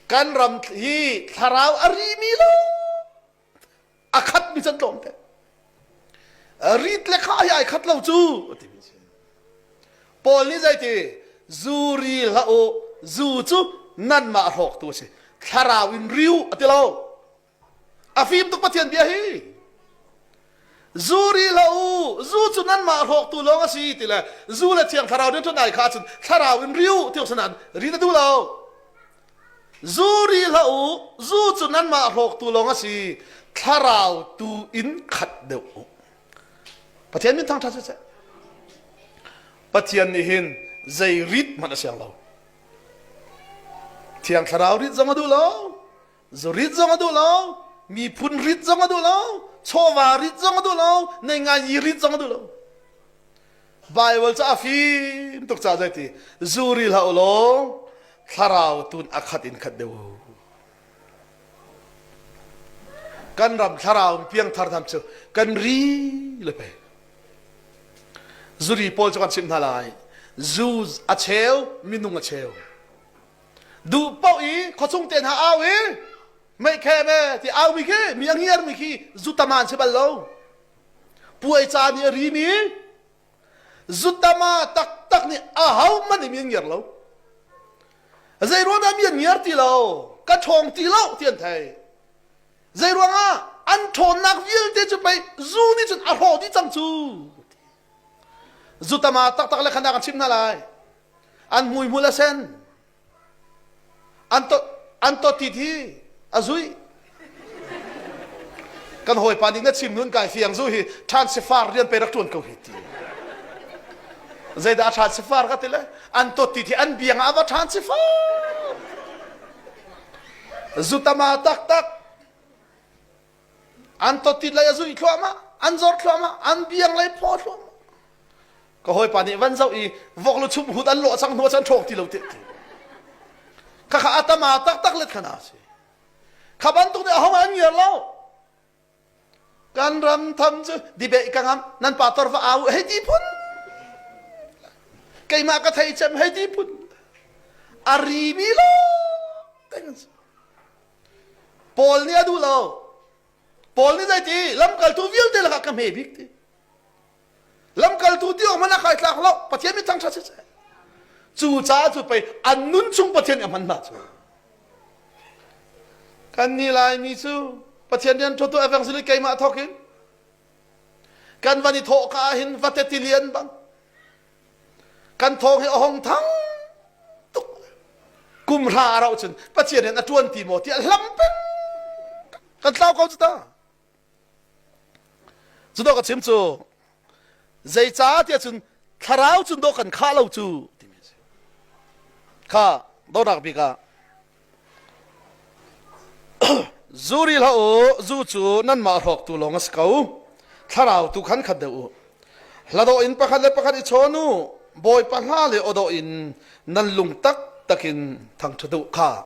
kan ram hi thlarau a rimi lo a khat mi can tlawm te rit le kha ai khat lo cu timi si paul nih zeiti zu ri hla u zu cu nan mah hrawk tu a si thlarau in riu a ti lo a fim tuk Pathian bia hi zu ri hlah u zu cu nanmah hlawktu lawng a si ti le zu le thiang thlarau rianṭuan ai kha cun thlarau in riu ti sanan ri na duh lo zu ri hlah u zu cu nanmah hlawktu lawng a si thlarau tu in khat deuh u Pathian min thangṭha siseh Pathian nih hin zei rit hmanh a siang lo thiang thlarau rit zong a duh lo Zurit zong a duh lo, miphun rit zong a duh lo, chawva rit zong a duh lo, nei ngai rit zong a duh lo. Baibal cu a fim tuk ca zai ti zuri hlah law thlarau tun a khat in khat deuh. Kan ram thlarau in piang thar tham cu kan ri le pe. Zuri pawl cu kan chimh hna lai. Zu a cheu, minung a cheu. duh paoh i khuachung te hna au i meikhem e ti au mi khi mi angiar mi khi zutaman si bal lo puai ca nih a ri mi zutama taktak nih a ho man in an ngiar lo zei ruang dah mi an ngiar ti lo ka ṭhawng ti lo ti an thei zei ruangah an ṭhawnnak vialte cu pei zu nih cun a hrawh dih cang cu Zutama taktak le khandak an chim hna lai an hmui hmul a sen an to an to tit hi a zui kan hawipa nih na chim nun kai fiang zu hi than sifar rian pe rak tuan ko hi ti zeidah than sifar ka ti le an to tit hi an biang ah va than sifar zutama taktak an totit lei a zuih thluahmah an zor thluahmah an biang lei phaw thluahmah ka hawipa nih van zoh i vok lu chum hut an lawh sang hnuah chan ṭhawk ti lo te khakha atama taktak let khana si kha bantuk nih ahong an ngiar lo kan ram tham cu dibe ka ngam nan pa torfa au hei ti phun keimah ka thei cem hei ti phun ari mi lo teng Paul nih a duh lo. Paul nih zeiti lamkaltu vialte lakah ka hme bik ti. Lamkaltu ti awk hmanh a kai tlak lo. Pathian mit thangṭhat siseh. Cu caah cu pei an nun chung Pathian i a hman hna cu. Kan nih Laimi cu Pathian rian ṭhutu evangelist keimah thawkin kan van i thawh ka ahhin vate tilian bang kan thawng hi a hong thang tuk kum hra a rauh cun pathian hin a ṭuan ti maw tiah hlam peng kan tlau ko cu ta cu dawh ka chim cu zeicah tiah cun thlarau cun dawh kan khah lo cu timi a si kha dawhnak bik ah Zu ri hlah u, zu cu nanmah hrawktu lawng a si ko. Thlarau tu khan khat deuh u. Hladawh in pakhat le pakhat i chawn u. Bawipa hna le awdawh in nan lung taktak in thangṭhat u. Kha